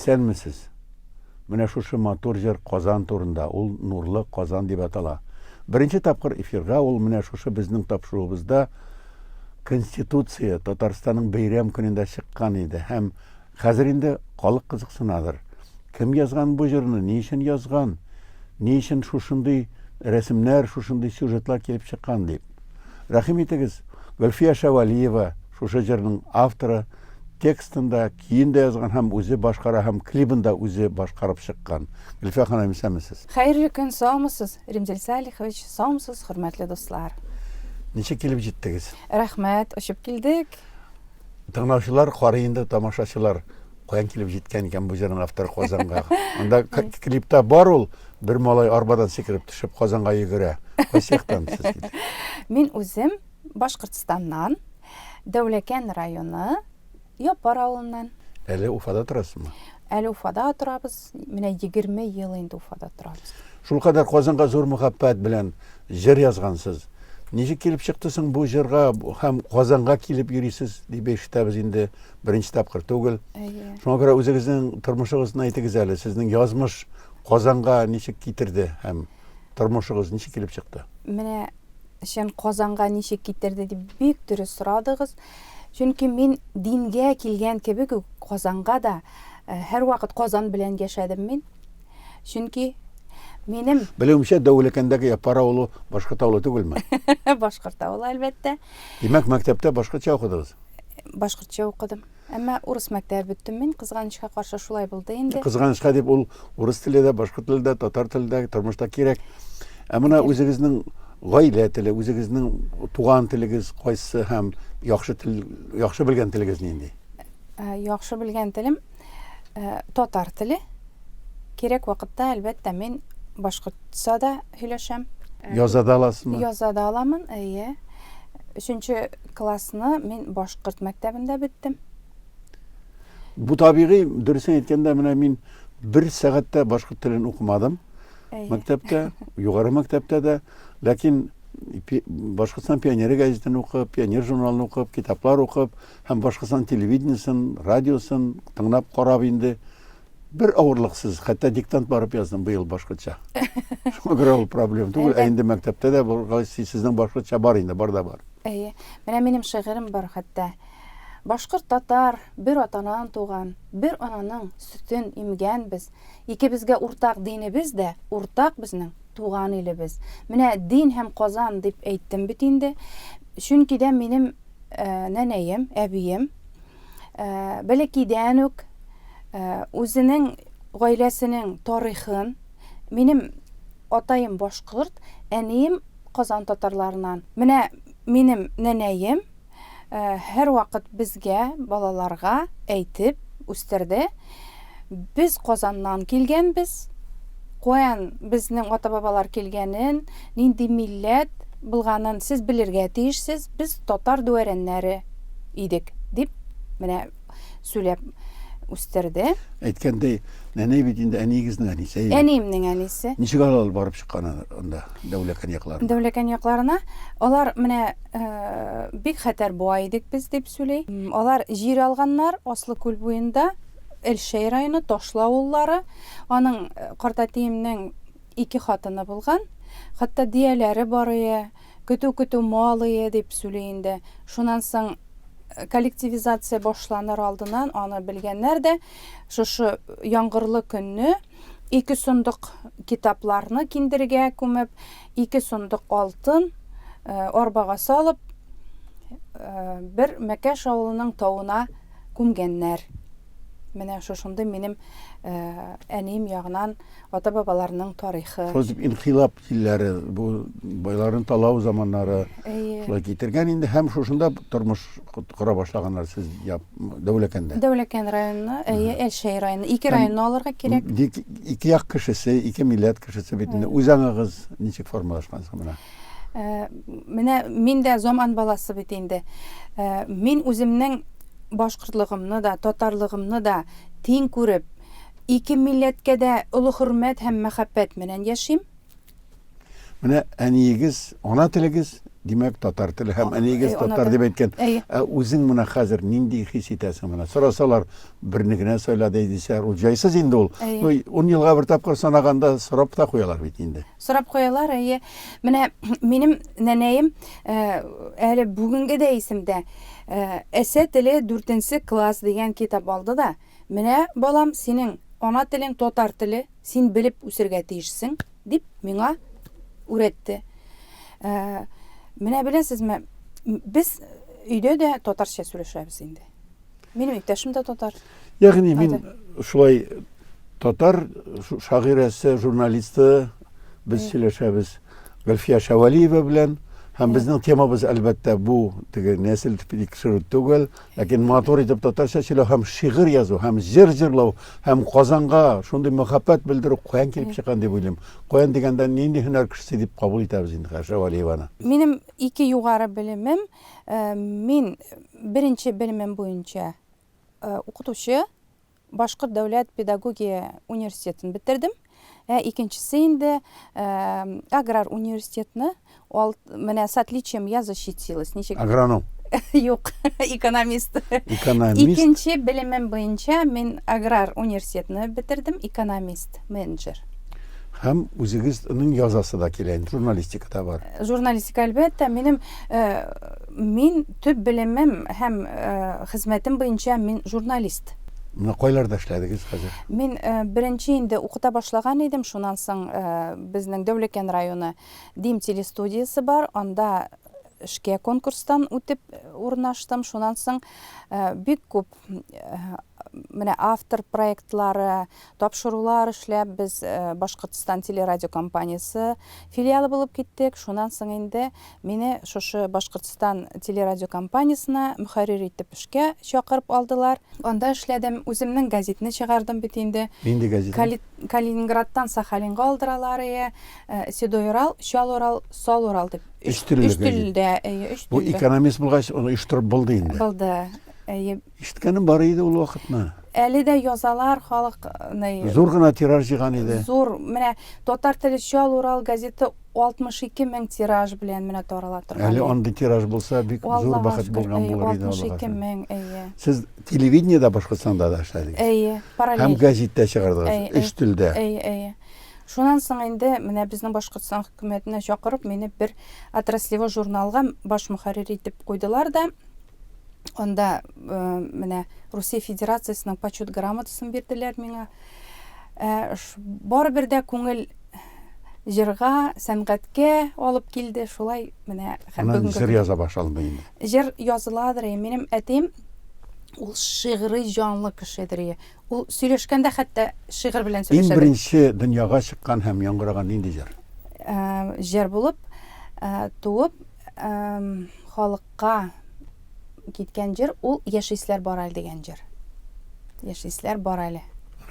Исәнмесез! Менә шушы матур җыр Казан турында, ул Нурлы Казан дип атала. Беренче тапкыр эфирга ул менә шушы безнең тапшыруыбызда Конституция Татарстанның бәйрәм көнендә чыккан иде һәм Хәзер инде халык кызыксынадыр. Кем язган бу җырны, ни өчен язган, ни өчен шушындый рәсемнәр, шушындый сюжетлар килеп чыккан дип. Рәхим итегез, Гөлфия Шәвәлиева, шушы җырның авторы, текстын да, көен дә язган һәм үзе башкара һәм клибын да үзе башкарып чыккан. Гөлфия ханым, исәнмесез! Хәерле көн, саумысыз, Римзил Салихович, саумысыз, хөрмәтле дуслар! Ничек килеп җиттегез? Рәхмәт, очып килдек. Тыңлаучылар карый инде, тамашачылар каян килеп җиткән икән бу җырның авторы Казанга. Анда клипта бар ул, бер малай арбадан сикереп төшеп Казанга йөгерә. Кайсы яктан сез килдегез? Мин үзем Башкортстаннан, Дәүләкән районы, Япар авылыннан. Әле Уфада торасызмы? Әле Уфада торабыз. Менә 20 ел инде Уфада торабыз. Шулкадәр Казанга зур мәхәббәт белән җыр язгансыз. Ничек килеп чыкты соң бу җырга һәм Казанга килеп йөрисез дип ишетәбез инде беренче тапкыр түгел. Әйе. Шуңа күрә үзегезнең тормышыгызны әйтегез әле, сезнең язмыш Казанга ничек китерде һәм тормышыгыз ничек килеп чыкты? Менә сен Казанга ничек китерде дип бик дөрес сорадыгыз. Чөнки мин дингә килгән кебек үк Казанга да һәрвакыт Казан белән яшәдем мин. Чөнки минем... Белүемчә, Дәүлекәндәге Япар авылы башкорт авылы түгелме? Башкорт авылы, әлбәттә. Димәк, мәктәптә башкортча укыдыгыз? Башкортча укыдым. Әмма урыс мәктәбе бөттем мин, кызганычка каршы шулай булды инде. Кызганычка дип ул урыс теле дә, башкорт теле дә, татар теле дә тормышта кирәк. Ә менә үзегезнең гаилә теле, үзегезнең туган телегез кайсы һәм яхшы тел, яхшы белгән телегез нинди? Яхшы белгән телем Э, татар теле. Кирәк вакытта, әлбәттә, мин башкортса да һөйләшәм. Э, яза да аласызмы? Яза да аламын, әйе. Өченче классны мин башкорт мәктәбендә биттем. Бу табигый, дөресен әйткәндә, менә мин бер сәгатьтә башкорт телен укымадым. Мәктәптә, югары мәктәптә дә, ләкин Башкортстан пионеры газетын укып, пионер журналын укып, китаплар укып, һәм Башкортстан телевидениесен, радиосын тыңлап, карап инде бер авырлыксыз, хәтта диктант барып яздым быел башкортча. Шуңа күрә ул проблем түгел, ә инде мәктәптә дә булгач, сезнең башкортча бар инде, бар да бар. Әйе. Менә минем шигырем бар хәтта. Башкорт татар бер атадан туган, бер ананың сөтен имгән без. Икебезгә уртак динебез дә, уртак безнең туган илебез. Менә дин һәм Казан дип әйттем бит инде. Чөнки дә минем Ә, нәнәем, әбием ә, бәләкидән үк ә, үзенең гаиләсенең тарихын, минем атаем башкорт, әнием Казан татарларынан. Менә минем нәнәем ә, һәрвакыт безгә, балаларга әйтеп үстерде. Без Казаннан килгәнбез. Коэн безнең ата-бабалар килгәнен, нинди милләт булганын сез белергә тиешсез, без татар дуәрәннәре идек, дип менә сүләп үстерде. Әйткәндәй, нәнәй бит инде әниегезнең әнисе. Әниемнең әнисе. Ничек алар барып чыккан анда Дәүләкән якларына? Дәүләкән якларына алар менә Э, бик хәтәр буа идек без, дип сөйли. Алар җир алганнар Аслы күл буенда, Элшәй районы Ташлы авыллары. Аның э, картәтиемнең ике хатыны булган. Хәтта дияләре барые, көтү-көтү малые дип сөйли инде. Шуннан соң э, коллективизация башланыр алдыннан аны белгәннәр дә шушы яңгырлы көнне Ике сондык китапларны киндергә күмеп, ике сондык алтын арбага салып, бер Мәкәш авылының тавына күмгәннәр. Менә шушындый минем әнием ягынан ата-бабаларның тарихы. Шулай дип инкыйлаб Илләре бу байларын талау заманнары шулай китергән инде һәм шушында тормыш кора башлаганнар сез Дәүләкәндә. Дәүләкән районына, әйе, Әлшәй районы. Ике районны алырга кирәк. Ике як кешесе, ике милләт кешесе бит инде. Үзаңыгыз ничек формалашкан соң менә? Э, менә мин дә заман баласы бит инде. Э, мин үземнең башкортлыгымны да, татарлыгымны да тиң күреп, Ике милләткә дә олы хөрмәт һәм мәхәббәт менән яшим. Менә әниегез, ана телегез, димәк, татар теле һәм әниегез э, татар дип әйткән. Ә үзең менә хәзер нинди хис итәсең менә? Сорасалар, берне генә сайла дисәләр, ул җайсыз инде ул. Ну, 10 елга бер тапкыр санаганда сорап та куялар бит инде. Сорап куялар, әйе. Менә минем нәнәем э, әле бүгенге дә исемдә. Э, Әсә теле 4 класс дигән китап алды да, Менә, балам, синең ана телең татар теле, син белеп үсергә тиешсең, дип миңа үрәтте. Менә беләсезме, без өйдә дә татарча сөйләшәбез инде. Минем иптәшем дә татар. Ягъни мин шулай татар шагыйрәсе, журналисты без сөйләшәбез Гөлфия Шәвәлиева белән. Һәм безнең темабыз, әлбәттә, бу теге нәсел тикшерү түгел, Ләкин матур итеп татарча сөйләү һәм шигырь язу һәм җыр җырлау һәм Казанга шундый мәхәббәт белдерү каян килеп чыккан дип уйлыйм. Каян дигәндә, нинди һөнәр кешесе дип кабул итәбез инде Хәшә Вәлиеваны? Минем ике югары белемем. Мин беренче белемем буенча укытучы. Башкорт дәүләт педагогия университетын бетердем. Ә икенчесе инде аграр университетны, ал, менә с отличием я защитилась. Ничек? Агроном. Юк, экономист. Экономист. Икенче белемем буенча мин аграр университетны бетердем, экономист, менеджер. Һәм үзегезнең язасы да килә, журналистикада бар. Журналистика, әлбәттә, минем Мин төп белемем һәм хезмәтем буенча мин журналист. Менә кайларда эшләдегез хәзер? Мин беренче инде укыта башлаган идем, шуннан соң безнең Дәүләкән районы Дим телестудиясе бар, анда эшкә конкурстан үтеп урнаштым, шуннан соң бик күп менә автор проектлары, Тапшырулар эшләп, без Башкортстан телерадиокомпаниясе филиалы булып киттек. Шуннан соң инде мине шушы Башкортстан телерадиокомпаниясенә мөхәррир итеп эшкә чакырып алдылар. Анда эшләдем, үземнең гәзитне чыгардым бит инде. Нинди гәзит ул? Калининградтан Сахалинга алдыралар, әйе. Седой Урал, Чал Урал, Сал Урал дип. Өч төрле гәзит. Өч телдә, әйе, өч телдә. Бу экономист булгач, аны оештырып булды инде. Булды, әйе. Ишеткәнем бар иде ул вакытны. Әле дә язалар халык ны. Зур гына тираж җыйган иде. Зур. Менә Татар теле Чал Урал газеты 62 мең тираж белән менә тарала торган. Әле андый тираж булса бик зур бәхет булган булыр иде. 62 мең, әйе. Сез телевидениедә Башкортстанда да эшләдегез. Әйе, параллель. Һәм гәзиттә чыгардыгыз, өч телдә. Әйе, әйе. Шуннан соң инде менә безнең Башкортстан хөкүмәтенә чакырып, мине бер отраслевой журналга баш мөхәррир итеп куйдылар да, Анда менә Русия Федерациясенең почет грамотасын бирделәр миңа. Барыбер дә күңел җырга, сәнгатькә алып килде. Шулай менә һәм бүгенге җыр яза башлады инде. Җыр языладыр. Минем әтием ул шигъри җанлы кешедер. Ул сөйләшкәндә хәтта шигырь белән сөйләшә. Иң беренче дөньяга чыккан һәм яңгыраган нинди җыр? Җыр булып туып халыкка киткән җыр ул Яшисләр бар әле дигән җыр. Яшисләр бар әле.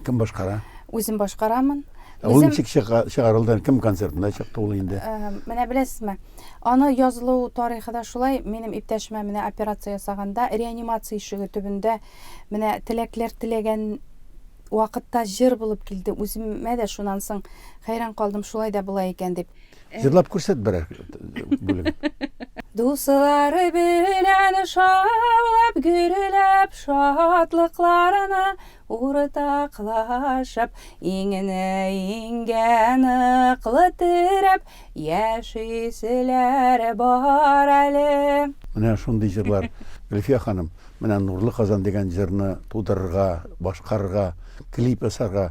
Кем башкара? Үзем башкарамын. Ә ул ничек чыгарылды? Кем концертында чыкты ул инде? Менә беләсезме? Аны язылу тарихы да шулай. Минем иптәшемә менә операция ясаганда реанимация ишеге төбендә менә теләкләр теләгән вакытта җыр булып килде. Үземә дә шуннан соң хәйран калдым, шулай да була икән дип. Җырлап күрсәт берәр бүлеген. Дуслары белән шаулап, гөрләп, шатлыкларына уртаклашып, иңне иңгә ныклы терәп, яшиселәр бар әле. Менә шундый җырлар, Гөлфия ханым, менә Нурлы Казан дигән җырны тудырырга, башкарырга, клип ясарга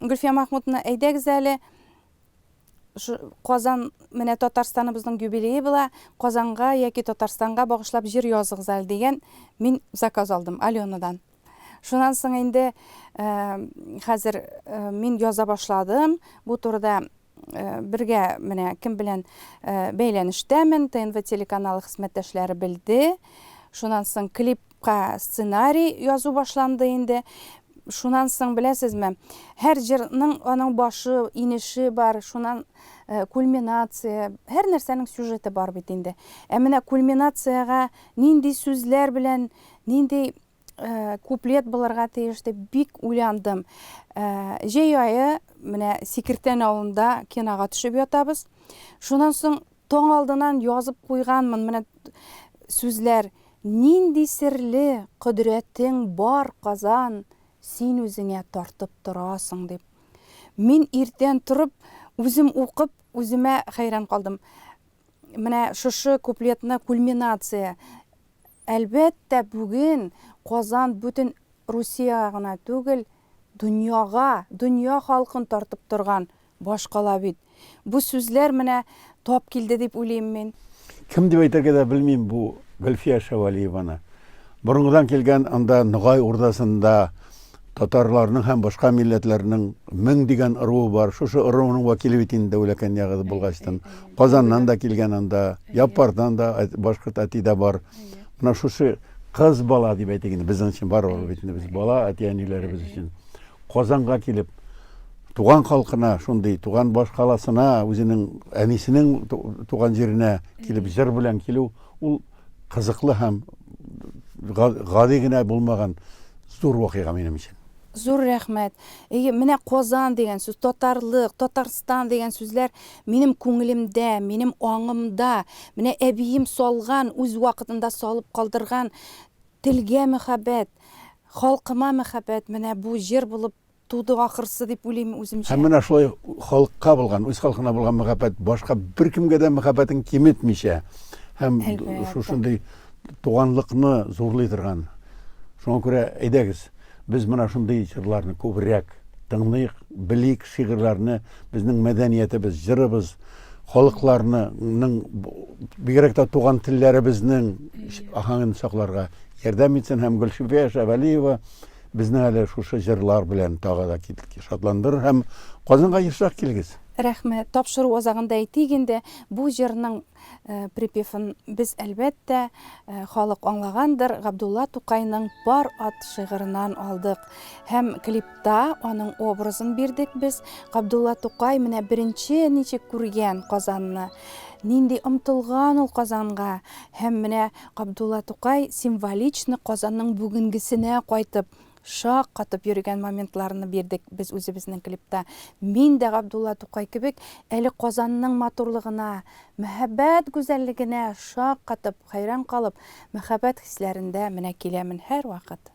Гөлфия Махмутовна, әйдәгез әле, шу Казан, менә Татарстаныбызның юбилее була, Казанга яки Татарстанга багышлап җыр языгыз әле, дигән мин заказ алдым Аленадан. Шуннан соң инде, хәзер мин яза башладым, бу турыда Э, бергә менә кем белән э, бәйләнештәмен тнв телеканалы хезмәттәшләре белде шунан соң клипка сценарий язу башланды инде шунан соң беләсезме һәр җырның аның башы инеше бар шунан э, кульминация һәр нәрсәнең сюжеты бар бит инде ә менә кульминациягә нинди сүзләр белән нинди Э, куплет булырга тиеш дип бик уйландым э, җәй айы менә сикертән авылында кинога төшеп ятабыз шуннан соң таң алдынан язып куйганмын менә сүзләр нинди серле кодрәтең бар казан син үзеңә тартып торасың дип мин иртән торып үзем укып үземә хәйран калдым Менә шушы куплетны кульминация. Әлбәттә, бүген Казан бүтен Русиягә гына түгел, дөньяга, дөнья халкын тартып торган башкала бит. Бу сүзләр менә тап килде дип уйлыйм мин. Кем дип әйтергә дә белмим бу Гөлфия Шәвәлиеваны. Борынгыдан килгән анда Ногай урдасында Татарларның һәм башка милләтләрнең мең дигән ыруы бар. Шушы ыруның вәкиле бит инде Дәүләкән ягызы булгачтын. Казаннан да килгән анда, Яппардан да башкорт әти дә бар. Менә шушы кыз бала дип әйтик инде, безнең өчен барыбер бит инде без бала әти-әниләребез өчен. Казанга килеп, туган халкына, шундый туган баш каласына, үзенең әнисенең туган җиренә килеп җыр белән килү, ул Кызыклы һәм гади генә булмаган зур вакыйга минем өчен. Зур рәхмәт. Әйе, менә Казан дигән сүз, татарлык, Татарстан дигән сүзләр минем күңелемдә, минем аңымда, менә әбием салган, үз вакытында салып калдырган телгә мәхәббәт, халкыма мәхәббәт менә бу җыр булып Тудык ахырсы дип уйлыйм үземчә. Һәм менә шулай халыкка булган, үз халкына булган мәхәббәт башка беркемгә дә мәхәббәтен киметмичә һәм шушындый туганлыкны зурлый торган. Шуңа күрә әйдәгез, без менә шундый җырларны күбрәк тыңлыйк, белик шигырьләрне, безнең мәдәниятебез, җырыбыз, халыкларның, бигрәк тә туган телләребезнең аһәңен сакларга ярдәм итсен һәм Гөлшифә Шәвәлиева Безне әле шушы җырлар белән тагы да шатландырыр һәм Казанга ешрак килегез! Рәхмәт! Тапшыру азагында әйтик инде, бу җырның припевын без, әлбәттә, халык аңлагандыр, Габдулла Тукайның Пар ат шигыреннан алдык. Һәм клипта аның образын бирдек без. Габдулла Тукай менә беренче ничек күргән Казанны, нинди омтылган ул Казанга һәм менә Габдулла Тукай символично Казанның бүгенгесенә кайтып, шак катып йөрегән моментларны бирдек без үзебезнең клипта. Мин дә Габдулла Тукай кебек әле Казанның матурлыгына, мәһабәт гүзәллегенә шак катып, хәйран калып, мәхәббәт хисләрендә менә киләмен һәрвакыт.